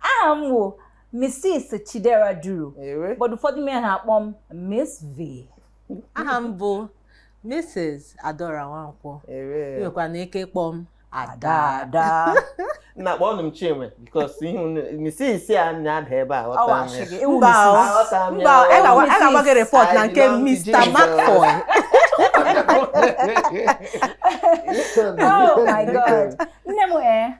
aha m wụ Mrs. Chidera Duru ewe but ụfọdụ mee ha akpọ m Miss V aha m bụ Mrs. Adaora Nwankwo i nwekwanụ ike kpọọ m Ada Ada na kpọọnụ m Chinwe because ihe unu Mrs. a na-ada ebe a ghọta m ọwachi ya. gị ewu Mba, Mrs. ọ- Aghọta m ya. mba a ga-agwa- a ga-agwa gị report na nke I belong to Mr. Jesus. McCoy oh my god nne m ee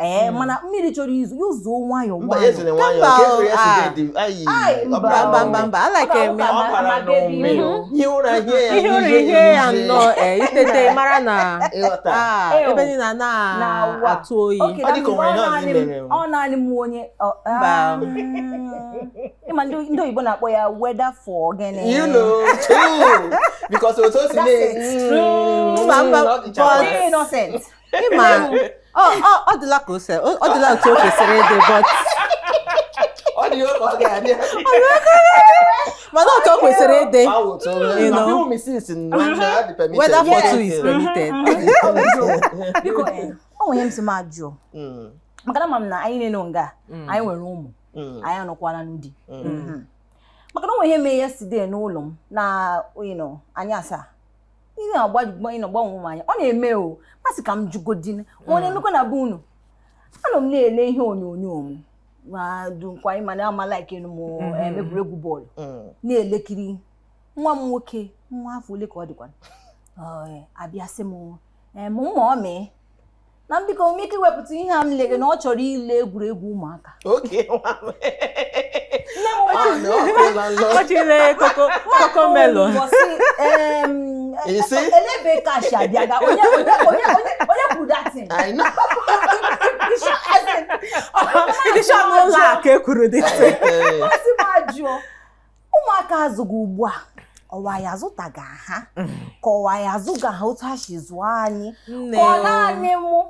ee eh, hmm. mana mmiri chọrọ izo ya ụzọ nwayọ ihe ya nnọọ eh, itete mara na ah, ebe niile a na-atụ oyi ọ naanị m onye ah. ị ma ndị oyibo na-akpọ ya weather for gịnị because otu o si na-eme ị ma ọ dịla ka ose ọ dịla otu o kwesịrị ịdị but mana otu o kwesịrị ịdị weather for two is permitted biko o nwere ihe m sị m ajụọ maka na ma m na anyị niile nọ nga mm. anyị nwere ụmụ mm. anyị anọkwala na di mm. mm-hmm. maka na o nwere ihe mee yesterday n'ụlọ m n'anyasị ihe agbagbanye na gbanwe ụmụ anyị a ọ na-eme o m asị ka m jụgodi ma ọ na-emekwa na be unu anọ m na-ele ihe onyonyo m madụkwa ị ma na ama like m mm-hmm. eh, egwuregwu bọọlụ mm. na-elekiri nwa m nwoke nwa afọ ole ka ọ dịkwa oh, eh, abịa sị m eh, mụ ma ọ mee na m biko nwee ike iwepụta ihe a m lere na ọ chọrọ ile egwuregwu ụmụaka oge nwa m. nne m Ah, na ọ kwụla nlọ. ọ chọrọ Coco Cocomelon Isi? elebe kashi abịa ga onye onye onye onye onye kwuru that thing I know. ndị shọpụ ụlọ akụ ekwuru dị Eh, eh. M sị m ajụọ ụmụaka a zụga ugbu a ọ wụ anyị azụtaghị ha ka ọ wụ anyị azụghị ha otu ha si zụọ anyị ka ọ naanị mụ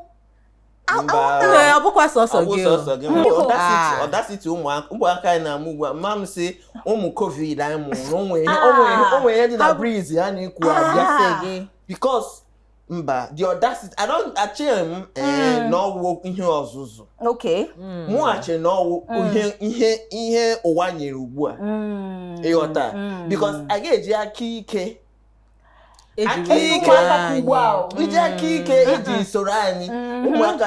ọ bụkwa sọsọ gị audacity ụmụaka anyị na-amụ ugbu a ma m sị ụmụ COVID anyị mụrụ o nwe ihe dị na breeze a na-eku abịa gị because mba the audacity i don't echeghị m eh, mm. na ọ wụ ihe ọzụzụ okay mm. mụ na-eche na ọ wụ mm. ihe ihe ihe ụwa nyere ugbu a ị ghọta because a ga-eji aka ike aka ike iji aka ike e ji soro anyị ụmụaka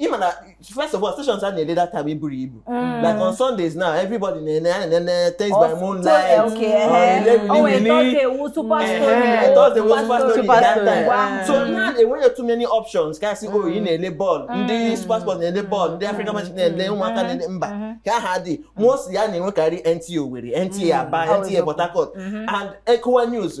ịma na first of all stations a na-ele that time eburo ibu mm. like on Sundays now everybody na-ene a na-ene Tales by Moonlight Thursday wụ Super Story that time so na enweghị too many options ka sị oh ị mm. na-ele bọọlụ mm. ndị SuperSport na-ele bọọlụ ndị African Magic na-ele ụmụaka na-ele mba ka aha dị most ihe a na-enwekarị NTA Owerri NTA Aba NTA Port Harcourt mm-hmm. and Ecowa News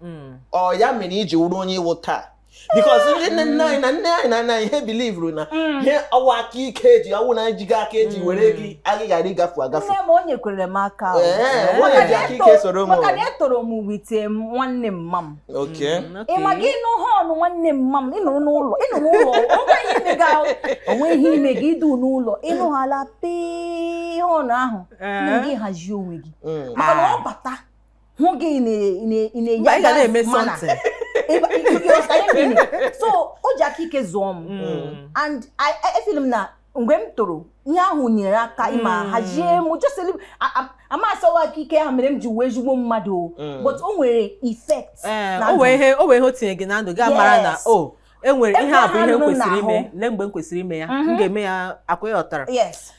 hmm. ọ ya mere i ji wụrụ onye ị wụ taa because ndị nne nne anyị na nne anyị na nna anyị ha bilivuru na hmm. ihe ọ wụ aka ike eji ọ wụ na ejighị aka eji hmm. were gị agị ghara ịgafu agafu onye kwere m aka onye ji aka ike soro m maka na etoro m with nwanne mma m ị ma gị nụ horn nwanne mma m ị nọrọ n'ụlọ ị nọrọ ụlọ o nwee ihe i me gị idu n'ụlọ ị nụghala pii horn ahụ eh. gị hazie onwe gị hmm. maka na ọ bata hụ gị na-eme something so o ji aka ike zụọ m mm. and efil m na mgbe m toro ihe ahụ nyere aka ịma mm. hazie m just ama m asị ọ wụ aka ike ahụ mere m ji wee ezigbo mmadụ mm. but o nwere effect eh, o nwee ihe o tinye gị na ndụ gị amara na o oh, e nwere ihe a bụ ihe m kwesịrị ime lee mgbe m kwesịrị ime ya m mhm. ga-eme ya akwa ị ghọtara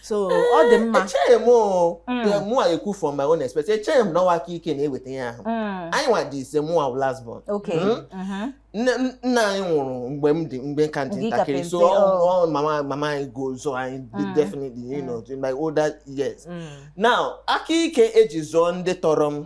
so ọ dị mma eh, echeghị m mm. mụwa ekwu from my own experience echeghị m na ọ wụ aka ike na-eweta ihe ahụ mm. anyị nwa dị ise mụwa last born hmm? mhm. nna anyị nwụrụ mgbe m dị mgbe m ka dị ntakịrị so oh. mama mama anyị go zụọ anyị mm. definitely you know in my older years now aka ike eji zụọ ndị tọrọ m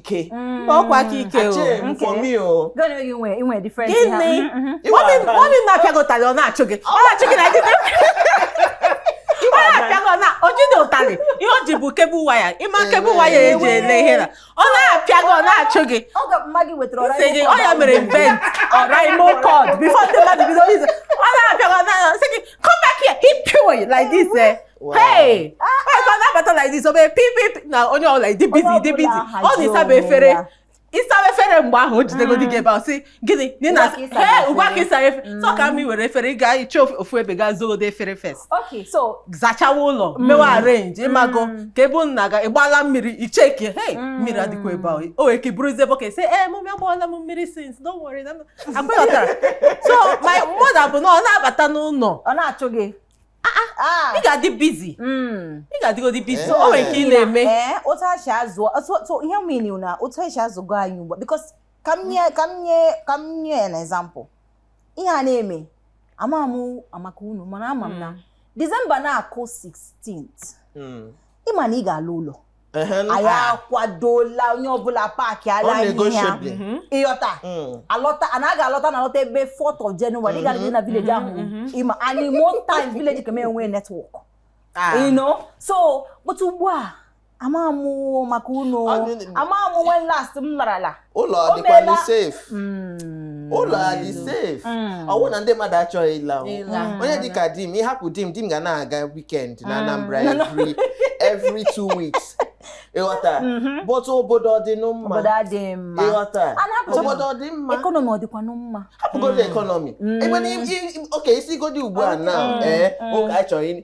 ike mm. ọkwa aka ike gịnị mummy m apịagotara ọ na-achụ gị ọ na-achụ gị na gị o jide ụtarị ihe o ji bụ cable wire ịma cable wire eji ele ihe na ọ na-apịa gị ọ na-achụ gị sị gị ọ ya mere invent Oraimo cord before ndị mmadụ bido i-use ọ na-apịa gị ọ na-asị gị come back here he pure like this eh hey ọ na-abata like this ọ bee pip pip na onye ọbụla adị busy adị busy ọ na ị saba efere ị saba efere mgbe ahụ o jidegodi gị ebe ahụ sị gịnị na ị na ugbu a ka ị saba he efere. ugbu a ka ị sara efere so ka m were efere ị gaa iche ofu- ofu ebe gaa zogode efere first okay so zachawa ụlọ mewa arrange ịmago ka ebe unu na-aga ịgbala mmiri icheke hey mmiri adịkwa ebe ahụ o wee ka i buruzie bucket sị ee mummy agbawala m mmiri since don't worry na m-" Akwa ị ghọtara? so my mother bụ na ọ na-abata n'ụlọ ọ na-achụ gị Ah. ị ga-adị busy Mm. ị ga-adịgodi busy Eh. o nwere nke ị na-eme Ee, otu a si azụ so so ihe m mean na otu e si azụgo anyị ugbu a because ka m nye ka m nye ka m nye an example ihe a na-eme ama m maka unu mana ama m na December na-akụ 16th Mm. ịma na ị ga-ala ụlọ anyị akwadola onye ọbụla paakịala ihe ya mhm. ịghọta mm. alọta a na-aga alọta na alọta ebe 4th of January ị ga-adị na mhm. village ahụ mhm. ịma and most times village ka m enwe network ah. you know so but ugbu a amaghị m maka unu amaghị m when last m larala ụlọ O dịkwanụ meela. safe Mm. ụlọ adị safe Mm. ọ wụ na ndị mmadụ achọghị ịla o. Ịla. onye dịka di m ị hapụ di m di m ga na-aga weekend na Anambra No, no. every every two weeks ịghọta Mhm. but obodo ọ dị nụ mma obodo adịghị mma ịghọta A na-apụta- obodo ọ dị mma economy ọ dịkwanụ mma hapụgodi economy Mm. ebe na i- i- okay i sigodi ugbu a na Mm. ee Mm. ụka anyị chọrọ ịnị-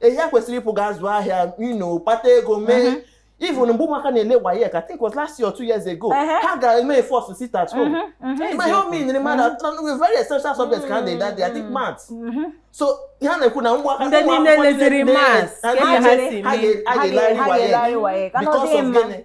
ehi a kwesịrị ịpụ ga zụọ ahịa you know kpata ego mee mhm. even mgbe ụmụaka na-ele WAEC I think was last year or two years ago ha gara eme force sit at home ma ihe omi nyere mmadụ very essential subject ka ha na-ede that day I think maths so ha na-ekwu na ụmụaka ndị niile leziri maths ha ga-elegharị WAEC because of gịnị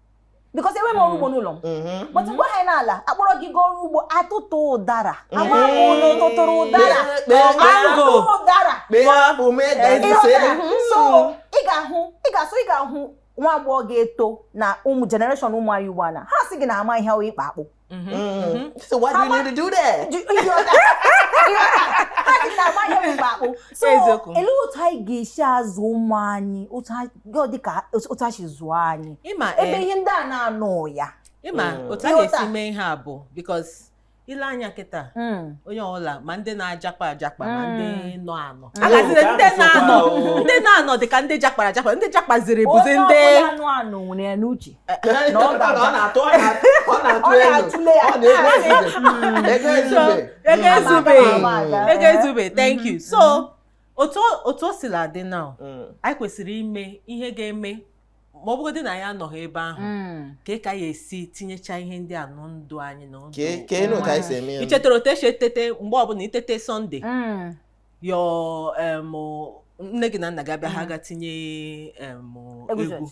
because enweghị m ọrụ ugbo mm. n'ụlọ m mm-hmm. but mgbe anyị na-ala a kpọrọ gị gaa ọrụ ugbo atụtụ ụdara mm-hmm. ama ụlọ tụtụrụ ụdara mango ụdara so mm-hmm. ị ga-ahụ ị ga-asụ ị ga-ahụ nwa agbọghọ ga-eto na ụmụ generation ụmụ anyị ugbu a na ha sị gị na ama ihe wụ ịkpa akpụ Mm-hmm. Mm-hmm. mm-hmm. So why do you need to do that? Do, you know, so ele otu anyị ga-esi azụ ụmụ anyị dịka otu e si zụọ anyị ebe eh, ihe ndị a na-anọghị ya ịma mm. otu a ga-esi mee ihe a bụ because i lee anya kịta hmm. onye ọbụla ma ndị na-ajakpa ajakpa ma ndị hmm. nọ anọ hmm. agaziri ndị na-anọ ndị na-anọ dị ka ndị jakpara ajakpa ndị jakpaziri bụzi ndị na ọ ga-aza ọ na-atụ ọ na-atụ ọ na-atụ Ọ elu na-atụle ya. ọ na-ego ezube ego So, ezube ego Mm. ezube Mm. ego ezube thank you so otu o- otu o sila dị now Mm. anyị kwesịrị ime ihe ga-eme ma ọ bụgodị na anyị anọghị ebe ahụ Mm. kee ka a ya-esi tinyecha ihe ndị a na ndụ anyị na ndụ Kee- kee nụ ka anyị si eme ya. i chetara otu e si etete mgbe ọbụla i tete Sunday Mm. your em, nne gị na nna gị abịa ha ga tinye em, Egwu egwu church.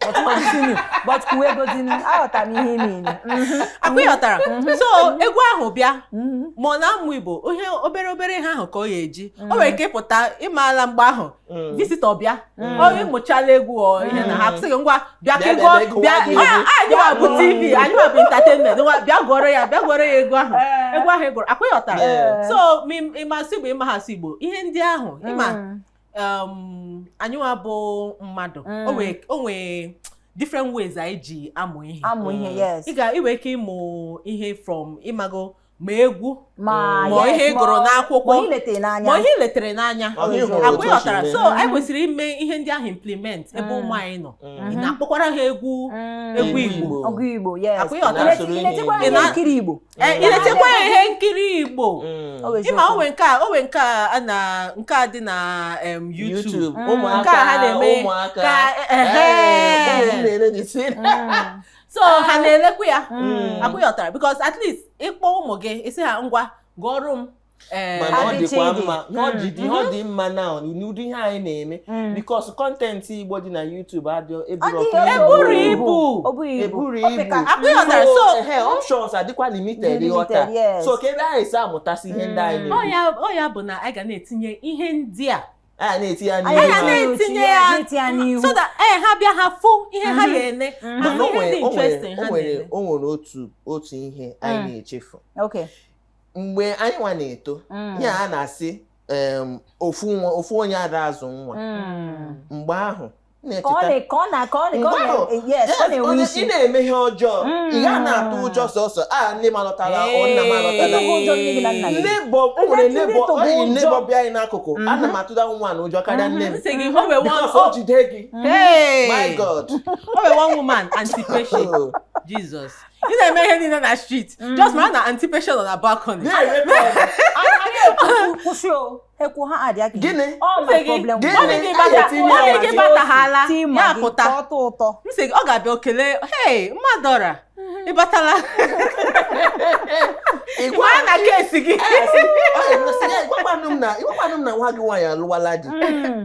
but continue but kwuo ego dị nụ aghọtara m ihe ime ime Mhm. akwa ịghọtara Mhm. so egwu ahụ bịa Mhm. ma ọ na-amụ Igbo ihe obere obere ihe ahụ ka ọ ya-eji o nwere ike ịpụta ị maala mgbe ahụ Mm. visitor bịa Mm. ọ ị mụchala egwu ọ ihe na ha sị gị ngwa bịa ka Bịa, ị gụọ bịa, bịa, bịa gụọ a- anyị nwa bụ TV anyị nwa bụ entertainment ngwa bịa gụọrọ ya bịa gụọrọ ya egwu ahụ Eh. egwu ahụ ị gụrụ akwa ịghọtara Yeah. so ma ị- ị ma asụ Igbo ị maghị asụ Igbo ihe ndị ahụ ịma Mm. um, anyị nwa bụ mmadụ Mm. o nwee- o nwee different ways anyị ji amụ ihe amụ ihe Mm. yes ị ga ị nwere ike ịmụ ihe from ịmago ma egwu ma ma yes, ihe ị ma- gụrụ n'akwụkwọ. ma ihe letere n'anya ma ihe ị letere n'anya Ma ihe ị hụrụ akwa otu o si ghọtara mee. so Mhm. anyị kwesịrị ime ihe ndị ahụ implement ebe Mm. ụmụ anyị nọ Mm. ị na-akpọkwara ha egwu Mm. egwu Igbo. egwu igbo yes Akwa ị ghọtara. Ị na-esoro Ị ihe na-echekwara Igbo. ihe nkiri igbo Eh, ị na-eletekwa ya ihe nkiri igbo Mm. Ọ bụ ịma eziokwu. o nwee nke a o nwee nke a a na nke a dị na em, YouTube YouTube Mm. ụmụaka Nke a ha na-eme ụmụaka ka ehe. Eh, ụmụ m na-ele the same. Mm. so ha na-elekwa ya Mm. akwa ị ghọtara because at least ị kpọọ ụmụ gị ị sị ha ngwa gụọrọ m Eh, mana ọ dịkwa mma na ọ jide ihe ọ dị mma na n'ụdị ihe anyị na-eme mm. because content igbo dị na YouTube adị eburo ibu eburo ibu options adịkwa limited ị ghọta so ka ebe anyị si amụtasị ihe ndị anyị mm. na-eme ọ ya bụ na anyị ga na-etinye ihe ndị a a na-eti ya n'ihu a na-etinye ya n'ihu so that ee eh, ha bịa ha fụ ihe ha mhm. ga-ene mhm. ma ihe dị interesting ha na-eme o nwere otu otu ihe anyị mm. na-echefu mgbe anyị nwa na-eto mm. ihe a na-asị ofu onye ada azụ nwa mm. mgbe ahụ ị na-eme ihe ọjọọ mm. ị ga na-atụ ụjọ sọsọ a nne m alọtala nna m alọtala neighbor o nwere neighbor anyị neighbor bi anyị n'akụkụ mm-hmm. ana m atụda woman a ụjọ karịa nne m because o jide gị my God o nwere one woman aunty Patience oh. Jesus ị na-eme ihe niile na street mm. just mara na aunty Patience nọ na balcony kwụsị o ekwu ha adịa gị gịnị gị bataghala ya pụta m sị gị ọ ga-abịa o kele hei mma Adaora mm-hmm. ị batala ịgwa na kesi gị ị gwakwanụ m na nwa gị nwaanyị alụwala di mm.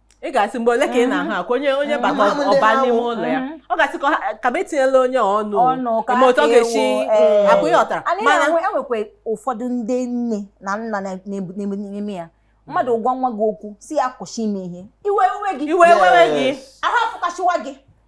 ị ga-asị mgbe ole ka ị na-ahụ akwa onye onye mm-hmm. bata mm-hmm. ọ ba n'ime mm-hmm. ụlọ ya ọ ga-asị ka m etinyela onye ọnụ ma otu ọ ga-esi akwa ị ghọtara mana e nwekwa e ụfọdụ ndị nne na nna na-eme ya mmadụ gwa nwa gị okwu sị ya kwụsị ime ihe iwe ewe gị iwe ewe gị ahụ afụkasịwa gị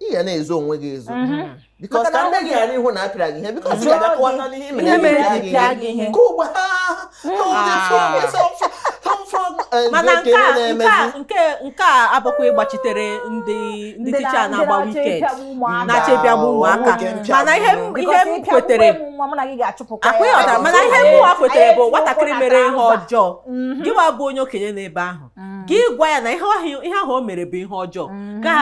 ị ga na-ezo onwe gị ezo mm-hmm. because ka nne gị ghara ịhụ na a pịara gị ihe because ị ga-abịa kọwata n'ihe mere pịa gị ihe ka ugbu mana nke a abụkwa ịgbachitere ndị ndị ticha na-agba wicked na-achọ ịpịagbu ụmụaka mana ihe m kwetere akwa ị ghọtara mana ihe mụwa kwetere bụ nwatakịrị mere ihe ọjọọ mm-hmm. gịwa bụ onye okenye n'ebe ahụ mm. gị gwa ya na ihe ahụ o mere bụ ihe ọjọọ mm-hmm. ka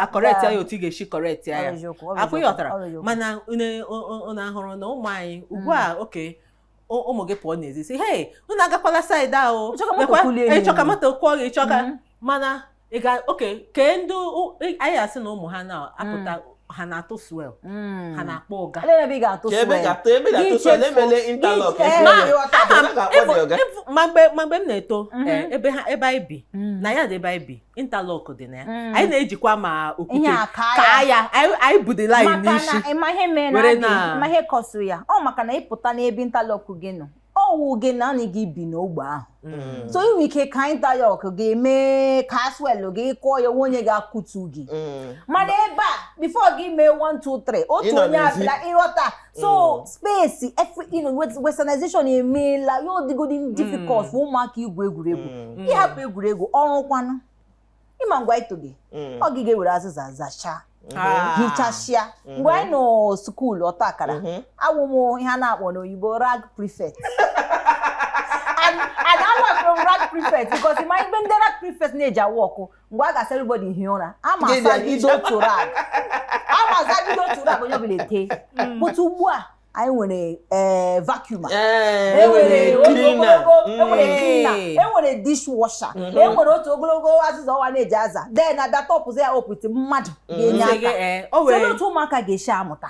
acorrect ya otu ị ga-esi correct ya akwụ ị ghọtara mana unu ahụrụ na ụmụ anyị ugbu a mm. okay ụmụ gị pụọ n'ezi sị hey unu agakwala side ahụ ị chọ ka moto kụọ gị ị chọ ka mm-hmm. mana ị ga oke kee ndị anyị asị na ụmụ ha na-apụta mm. ha na-atụ swel hmm. ha na-akpọ ọga ma mgbe m na-eto mhm. eh, ebe anyị bi hmm. na ya dị ebe anyị bi interlock dị na ya mm. anyị na-ejikwa ma okwute kaa ya anyị ebu the line n'isi ma ihe mere na adị ma ihe cause ya ọ maka na ị pụta n'ebe interlock gị nọ ọ wụ gị naanị gị bi n'ogbe ahụ mm. so i nwe ike kaa interlock gị mee ka swel gị kụọ ya o nwe onye ga-akụtu gị mm. mana ebe a before gị mee 1 2 3 otu onye abịa ị ghọta so mm. space efe you know westernization emeela ya ọ dịgodi mm. difficult for ụmụaka igwu egwuregwu mm. ị hapụ egwuregwu ọrụ kwanụ ị ma ngwa ito gị ọ gị ga-ewere azịza zachaa Ah. hichasịa mhm. mgbe anyị nọ skuulu ọta akara mhm. awụ m ihe a na-akpọ n'oyibo rag prefect and and I was rag prefect because my even the rag prefect na-eji awụ ọkụ mgbe a ga-asị everybody hie ụra ama Gịnị asa a- bido otu rag ama asa bido otu rag onye ọbụla etee but ugbu a anyị nwere ee vacuum Ee, enwere e nwere cleaner. ogologo enwere Mm. cleaner Ee. enwere dishwasher Mhm. enwere otu ogologo azịza ọwa na-eji aza then abịa tọpụzi ya opiti mmadụ ga-enye Sị gị, aka ee, so otu ụmụaka ga-esi amụta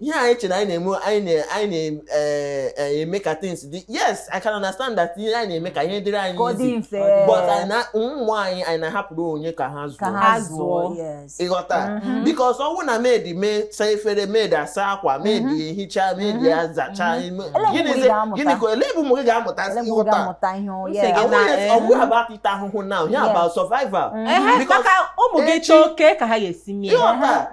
ihe anyị che na anyị na-eme anyị na-eme eh, eh, ka things dị yes I can understand that ihe anyị na-eme ka ihe dịrị anyị easy but ụmụ anyị anyị na-ahapụrụ onye ka ha zụọ ị ghọta mm-hmm. because ọ wụ na maid mee saa efere maid asa akwa maid mm-hmm. ehicha maid mm-hmm. azacha gịnị ka ele bụ ụmụ gị ga-amụta ị ghọta ọ wụghị eh. about ịta ahụhụ now ya about survival ụmụ gị chọọ okay ka ha ga-esi mee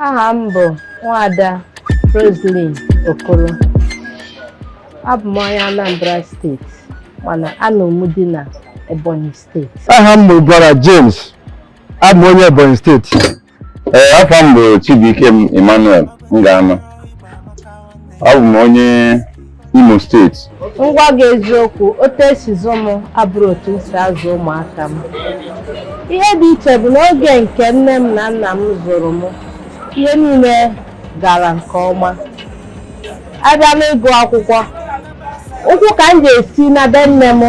aha m bụ nwada Roselyn Okoro abụ m onye Anambra steeti mana anọ m di na Ebonyi steeti aha m bụ brother James abụ m onye Ebonyi steeti ee afa m bụ Chibuikem Emmanuel m ga-anọ abụ m onye Imo steeti m gwa gị eziokwu otu e si zụ m abụrọ otu m si azụ ụmụaka m ihe dị iche bụ na oge nke nne m na nna m zụrụ m ihe niile gara nke ọma abịa n'ịgụ akwụkwọ ụkwụ ka m ji esi na be nne m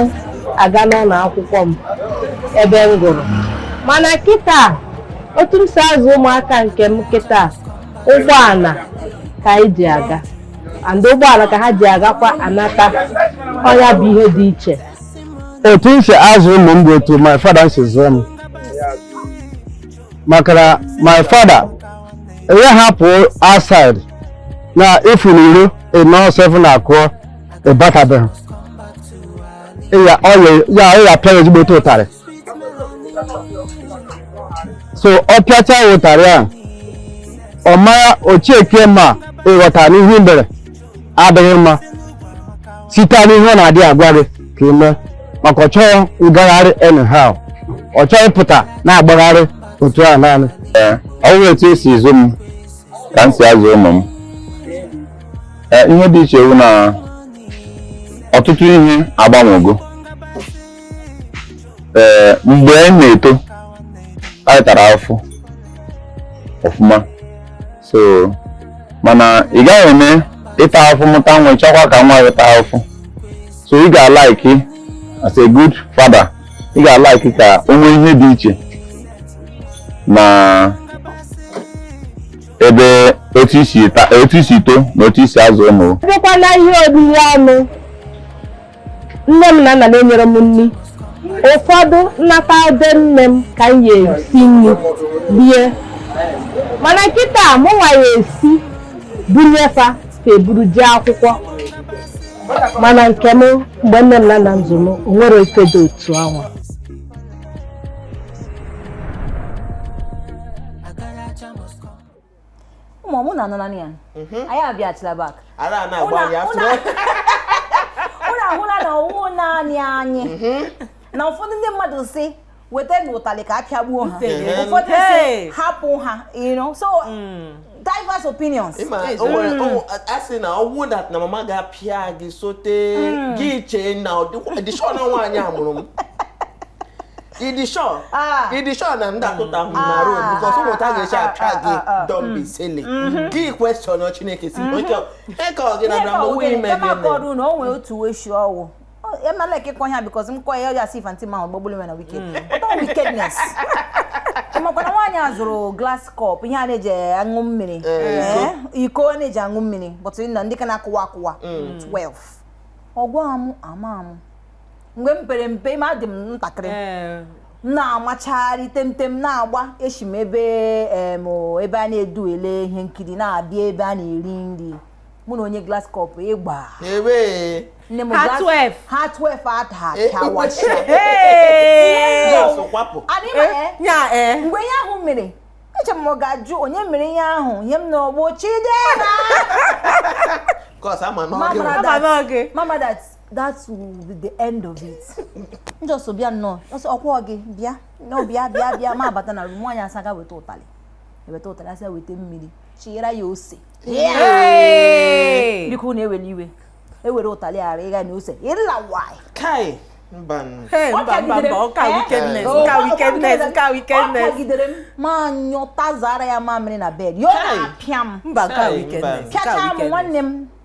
aga n'ụlọ akwụkwọ m ebe m gụrụ mana kịta otu m si azụ ụmụaka nke m kịta ụgbọala ka anyị ji aga and ụgbọala ka ha ji agakwa anata ọ nya bụ ihe dị iche otu m si azụ ụmụ m bụ otu my father si zụọ m maka na my father ị yaha apụ outside na ifu n'iro ịnọ seven akụọ ịbatabeghị ọ ya pịa gị ezigbote ụtarị so ọ pịacha gị ụtarị ahụ ọ mara ochiekie ma ịghọta na ihe i mere adịghị mma site n'ihe ọ na-adị agwa gị ka ị mee maka ọ chọghị ngagharị anyhow ọ chọghị ị pụta na-agbagharị otu a naanị ọ wụ etu e si zụọ m ka m si azụ ụmụ m ihe dị iche wụ na ọtụtụ ihe agbanwego ee mgbe anyị na-eto anyị tara afụfụ ọfụma so mana ị gaghị eme ịta ahụfụ mụta nwa ị chọkwa ka nwa gị taa ahụfụ so ị ga-alike as a good father ị ga-alike ka o nwee ihe dị iche na ebe otu i si ta- otu i si too na otu i si azụ ụmụ Ọ bụkwa na ihe oriri ọnụ nne m na nna m enyerọ m nri ụfọdụ m nata be nne m ka m ya esi nri rie mana kịta mụ nwa ya esi bunye fa ka e buru jee akwụkwọ mana nke m mgbe nne m na nna m zụrụ m o nwerọ ife dị otu anwa ụmụ mụ na anụla ya mhm. anyị abịachila back ara a na-agba anyị afro unu ahụla na ọwụ naanị anyị mhm. na ụfọdụ ndị mmadụ sị wetanụ ụtalị ka apịagbuo ha ụfọdụ sị hapụ ha so mm. diverse opinions mm. a sị na ọwụ that na mama ga-apịa gị sote mm. gị chee na ị dị sure na nwaanyị a mụrụ m ị dị sure Ah. ị dị sure na ndị akụta ahụ na Ah, road because ah, ụmụta ah, ga-eche ah, apịa ah, gị ah, ah. don't be silly gị question chineke si oke eke ọ gị na bịa mgbe ime gị eme kọrọ unu o nwee otu uwe shi ọwụ emela ka ịkọ ya because m kọ ya ya si fanti ma gbagbulu nwere wike ọtọ wickedness makwana nwaanyị a zụrụ glass cup ihe a na-eji aṅụ mmiri Eh, iko a na-eji aṅụ mmiri but na ndị ka na-akụwa akụwa 12 ọ gwa mụ mama mụ mgbe m pere mpe ma adị m ntakịrị ee m na-amacharị temtem na-agba esi m ebe em, o, ebe a na-edu ele ihe nkiri na-abịa ebe a na-eri nri mụ na onye glass cup ịgba nkwụ nne m Ha glass- 12. ha 12 ada Eh. achawacha Ee! Glass cup adị ma ee ya ee mgbe ihe ahụ mere eche m ọ ga-ajụ onye mere ihe ahụ ihe m na-anụ bụ Chidera cos ama na ọ Mama gị na- ama n'oge mama that that will be the end of it just bịa nnọọ ọsọ ọ kwa gị bịa nọ bịa bịa bịa ma abata na room nwaanyị a sị gaa weta ụtalị weta ụtalị a sị weta mmiri chinyere ya ose biko na ewela iwe ewere ụtalị ghara ịga na ose ịla why kai mba mba mba mba ọka wickedness ọka wickedness ọka wickedness ọ kụgidere m m anyụtazara ya mamịrị na bed ya na-apịa m mba ọka wickedness pịacha m nwanne m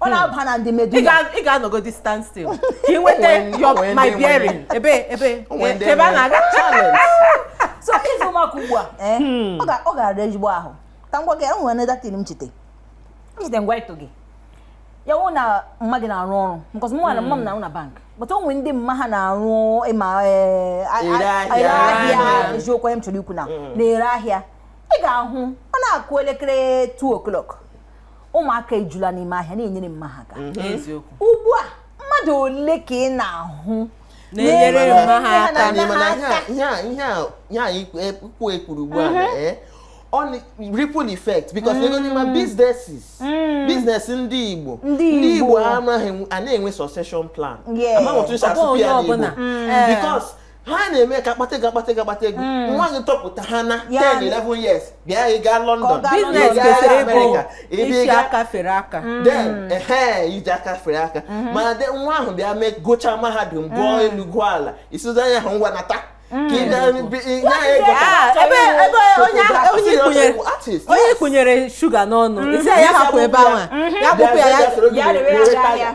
ọ na-aba hmm. na ndị medu ị ga-anọgodi stand still ka ị nweta your my bearing ebe ebe ebe a na-aga challenge so ịzụ ụmụaka ugbu a eh, hmm. ọ ga-ara ezigbo ahụ ka m gwa gị enwere another thing m chete m chete mgbe eto gị ya wụ na mma gị na-arụ ọrụ because mụ na mma m na-arụ na bank but o nwere ndị mma ha na-arụ ị ma eh, ahịa eziokwu m chọrọ ikwu na hmm. na-ere ahịa ị ga-ahụ ọ na-akụ elekere 2 o'clock ụmụaka ejula n'ime ahịa na-enyere mma ha aka mhm. ugbu a mmadụ ole ka ị na-ahụ na-enyere mma ha aka ihe a ikwu ekwuru ugbu a mhm. eh, on ripple effect because mm. ego ma businesses mm. business ndị Igbo ndị Igbo anaghị a na-enwe succession plan amaghị otu esi asụpụ ya n'Igbo because ha na-eme ka a kpata ego akpata ego akpata ego hmm. nwa gị topụta ha na 10 11 years bịa ị gaa London business kwesịrị ịbụ e si aka fere aka hmm. then ehe iji aka fere aka hmm. mana de nwa ahụ bịa mee gụchaa mahadum gụọ elu gụọ ala ị sịzie ya ha ngwa nata onye kpụnyere shuga n'ọnụ ị sị ya hapụ ebe ahụ ya gbụpụ ya ya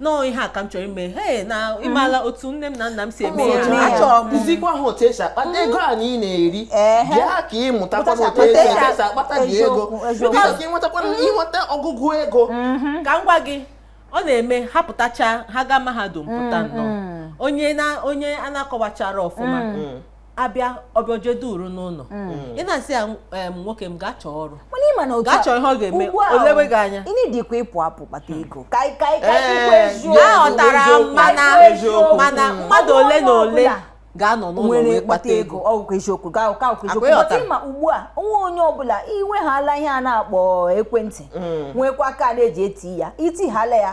no ihe a ka m chọrọ ime he na ị mala otu nne m na nna m si eme ya Ụmụ achọrọ m kuzikwa ha otu esi akpata ego anyị na-eri Ehe. bịa ka ị mụtakwa Mụtacha- otu esi mụtacha- esi akpata gị ego eziokwu, eziokwu. bịa ka ị nwetakwa ịnweta ọgụgụ ego ka m gwa gị ọ na-eme ha pụtacha ha gaa mahadum pụta nnọọ onye na onye a na-akọwachara ọfụma abịa ọ bịa o je duru n'ụlọ mm. ị na-asị ya nwoke m gaa chọọ ọrụ gaa chọọ ihe ọ ga-eme o lewe gị anya ị needikwa ịpụ apụ kpata ego aghọtara mana mana mmadụ ole na ole ga-anọ n'ụlọ wee kpata ego ọ wụkwa eziokwu ga ụka ụka eziokwu but ma ugbu a o nwee onye ọbụla i nwehala ihe a na-akpọ ekwentị mm. nwekwa kaadị eji eti ya i tihala ya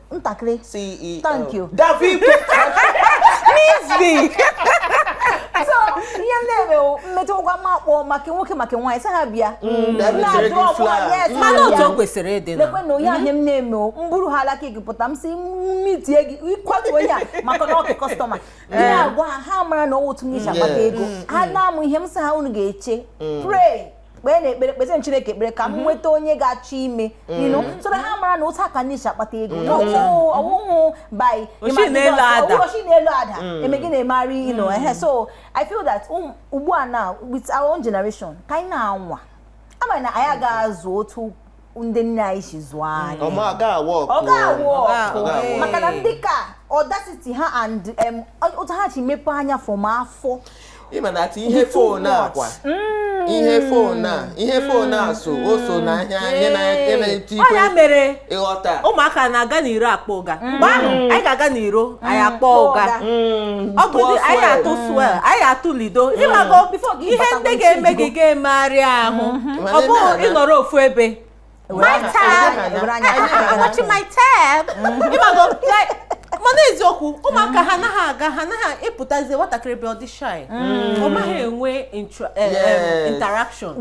ntakịrị CEO. thank you David Mizi. so ihe m na-eme wụ mmetụ ụgwọ ma kpọọ ma nke nwoke ma nke nwaanyị sị ha bịa David Na-ajụ chere gị ọkwa, flag. yes, mana ha otu bịa. o kwesịrị ịdị na lekwe na onye ahịa m na-eme o m buru ha alaka gị pụta m si mitie gị ịkwatu onye a maka na ọwụ customer gị agwa ha ha mara na ọwụ otu m si akpata Yes. ego ha na-amụ ihe m sị ha unu ga-eche pray kpee na ekpere kpesịrị Chineke ekpere ka m mhm. nweta onye ga-achọ ime inu mhm. so na ha mara na otu a ka anyị si akpata ego mhm. ọwụhụ by o si n'elu ada mm. eme gị na-emegharị ino mm. ehe so I feel that um, ugbu a now with our own generation ka anyị na-anwa amaghị na anyị ga-azụ otu ndị nne anyị si zụọ anyị ọ ga-awụ ọkụ ọ ga-awụ Ọ ọkụ ga-awụ ọkụ. maka na ndị ka audacity ha and em, otu ha si mepe anya from afọ ịma na ati ihe Dị too phone a much. kwa ihe phone a ihe phone a so o so na ahịa ihe na ihe na-eti ọ ya ikwe mere ịghọta ụmụaka na-aga n'iro akpọ ụga mgbe ahụ anyị ga-aga n'iro anyị mm. akpọ ụga mm, ọ bụzi anyị atụ swell mm. anyị atụ lido ịmago ihe ndị ga-eme gị ga-emegharị ahụ mm-hmm. ọ bụghị ịnọrọ ofu ebe my tab watch my tab mm-hmm. ịmago mana eziokwu ụmụaka ha anaghị aga ha anaghị ịpụtazi nwatakịrị bịa ọ dị shy mm. ọ maghị enwe eh, interaction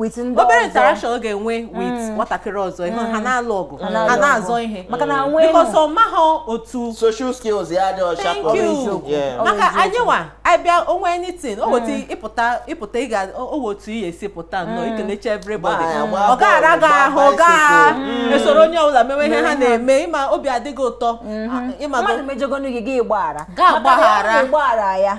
obere interaction ọ ga-enwe with mm. nwatakịrị ọzọ ihe ha mm. na-alụ ọgụ ha na-azọ ihe because ọ maghị otu social skills ya dị ọcha thank you maka anyị nwa abịa o nwee anything o weta ịpụta ịpụta ịga owe otu ihe e si pụta nnọọ ikelecha everybody ọ ga-ara gị ahụ gaa esoro onye ọbụla mewe ihe ha na-eme ịma obi adịghị ụtọ mm-hmm. ịma gị gbaghara ya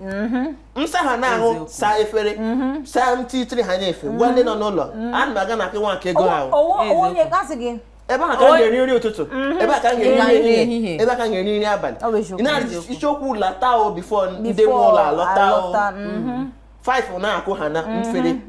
Mm-hmm. nsa ha na-ahụ saa efere mm-hmm. saa ntị itiri ha na-efe gwa ndị nọ n'ụlọ mm-hmm. ana m aga na nke Nwakaego ahụ ebe a ka m ga-eri nri ụtụtụ ebe a ka m ga-eri nri ehihie ebe a ka m ga-eri nri abalị ị na-adị isiokwu lata o before ndị nwe ụlọ alọta o 5 na-akụ ha na mfere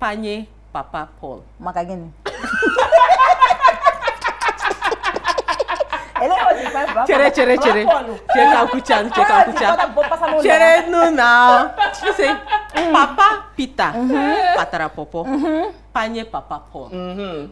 panye papa Paul maka gịnị chere chere chere chere ka m kwuchaa chere ka m kwuchaa cherenụ na sị papa Peter patara pọpọ panye papa Paul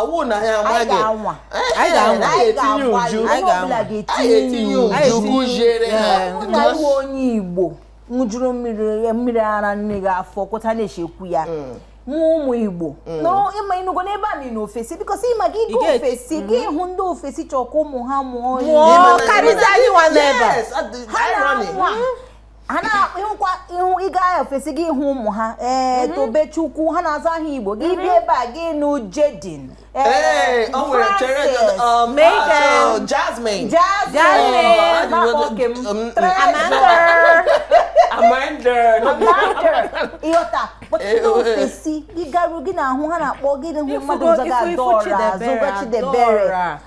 ọwụ na ya amaghị anyị ga-etinye uchu anyị ga-etinye uchu kụziere ha na ị wụ onye Igbo ṅụjuru mmiri ara nne gị afọ kwụta na-echekwu ya mm. mụ ụmụ Igbo mm. ịma ịnụgo n'ebe a na ofesi because ịma gị ịga ofesi gị mm-hmm. hụ ndị ofesi chọkwa ụmụ ha mụọ karịzi anyị nwa nọ ebe a na-anwa ha na-ahụkwa ihu ị gaa ofesi gị hụ ụmụ ha ee mhm. tobechukwu ha na-aza aha igbo gị mhm. bịa ebe a gị nụ jayden ee o nwere chere um, ah, jasmine jasmine ịghọta kpọchite ofesi gị garuo gị na-ahụ ha na-akpọ gị hụ mmadụ zaga adaora zaga chidiebere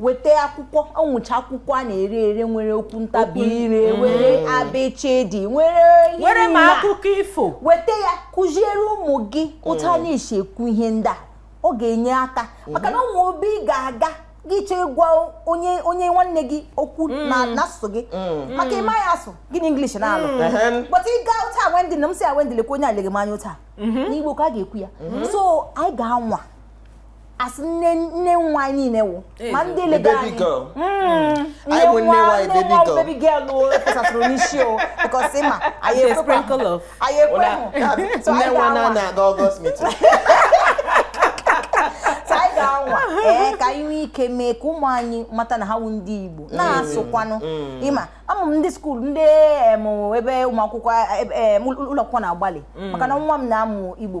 weta akwụkwọ o nwecha akwụkwọ a na-ere ere nwere okwu ntabi ire mm. nwere abịchịdị nwere nwere ma akụkọ ifo weta ya kụziere ụmụ gị otu a mm. na-esi ekwu ihe ndị a ọ ga-enye aka mm-hmm. maka na o nwe ebe ị ga-aga gị chọọ ịgwa onye onye nwanne gị okwu mm. na n'asụsụ gị maka ịma ya asụ gị na English na-alụ but ị gaa otu a Wendy na m sị ah Wendy lekwa onye a lega m anya otu a mm-hmm. n'Igbo ka a ga-ekwu ya mm-hmm. so anyị ga-anwa as nne nne nwa anyị niile wụ ma ndị lega anyị hmm. nne nwa nne nwa baby girl o efesatụrụ n'isi o because ma anyị ekwekwa anyị ekwe hụ so anyị ga-anwa so anyị ga-anwa ee ka anyị nwee ike mee ka ụmụ anyị mata na ha wụ ndị Igbo hmm. na-asụkwanụ hmm. ị ma ama m ndị school ndị ebe ụmụ akwụkwọ ụlọ akwụkwọ na-agbalị maka na nwa m na-amụ Igbo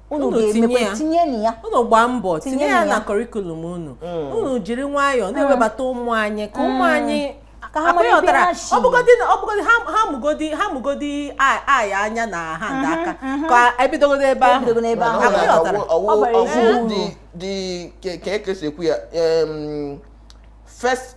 unu ga-emekwa tinye na ya unu gbaa mbọ tinye ya na curriculum unu mm. unu jiri nwayọọ mm. na-ewebata ụmụ anyị ka ụmụ mm. anyị ọ bụgodi ha mụgodi ha mụgodi eye anya na hand mm-hmm, aka mm-hmm. ka e bidogodi ebe ahụ dị ka ekesi ekwu ya first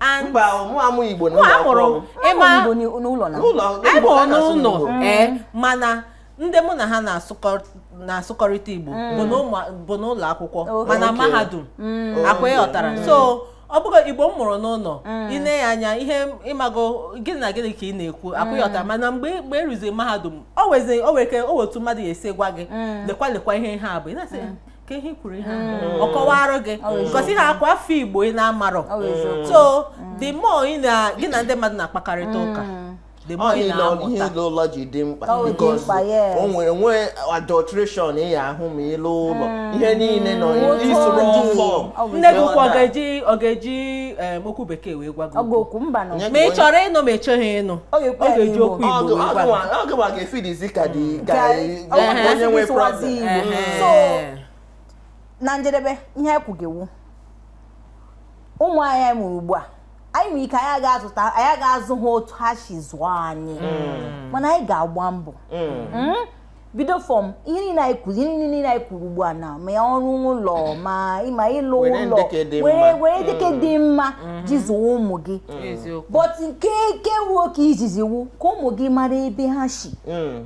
And- mba mụ amụ igbo na mụ ụlọ amụrụ akwụkwọ m. ịma Ama Igbo n'i- n'ụlọ na n'ụlọ anyị Igbo mụrụ ka a na-asụ n'ụlọ n'Igbo. ee mana ndị mụ na ha na-asụkọ- na-asụkọrịta igbo bụ n'ụmụ- bụ n'ụlọ akwụkwọ Okay. mana Okay. mahadum Oh, akwa yeah. ịghọtara so ọ bụrụ igbo m mụrụ n'ụlọ i nee ya anya ihe ị mago gịnị na gịnị ka ị na-ekwu akwa ịghọtara mana mgbe mgbe i ruziri mahadum o nwezi o nwere ike o nwee otu mmadụ ya esi gwa gị lekwa lekwa ihe ihe a bụ ị na-asị ka ihe kwuru ihe ọ kọwara gị gosi ha akwa afọ igbo ị na-amarọ so the more ị na gị na ndị mmadụ na-akpakarịta ụka ihe ụlọ ji dị mkpa because o nwere nwee adulteration ị ya-ahụ ma i luo ụlọ mm. ihe niile nọ isoro ọfọ nne gị kwa ọ ga-eji okwu bekee wee gwa gị okwu ma ị chọrọ ịnụ ma ị chọghị ịnụ ọ ga-eji okwu igbo wee gwa gị Ọ bụ Ehe. onye nwe This was problem. Igbo. Ehe. So, na njedebe ihe anyị kwuge wu ụmụ anyị mụrụ ugbu a anyị nwere ike anyị ga-azụ ha otu ha si zụọ anyị mana anyị ga-agba mbọ Mm? bido from ihe niile anyị kwuru ugbu a na ma ọrụ ụlọ ma ịma ịlụ ụlọ were ndị ke dị mma ji zụọ ụmụ gị eziokwu but nke nke wu nke izizi wu ka ụmụ gị mara ebe ha si Mm.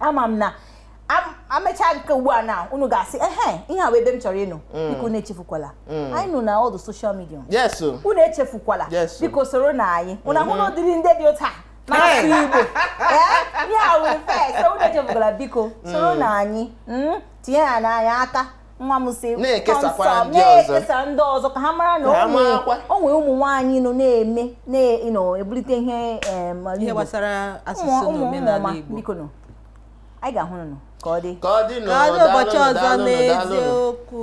ama m na amecha nke ugbu a na unu ga-asị ehe ihe a bụ ebe m chọrọ ịnọ mm. biko unu echefukwala mm. anyị nọ na all the social media unu echefukwala biko soro nụ anyị unu ahụ mm-hmm. n'ụdịrị ndị dị otu a na-asụ igbo ihe a wụrụ first unu echefukwala biko soro mm. nụ anyị tinyere nụ anyị aka nwa m si na-ekesakwara ndị ọzọ ka ha mara na o nwere ụmụ nwaanyị nọ na-eme na-ebulite ihe gbasara asụsụ na omenala Igbo biko nụ anyị ga-ahụ nụ ka ọ dị ka ọ dị n'ụbọchị ọzọ n'eziokwu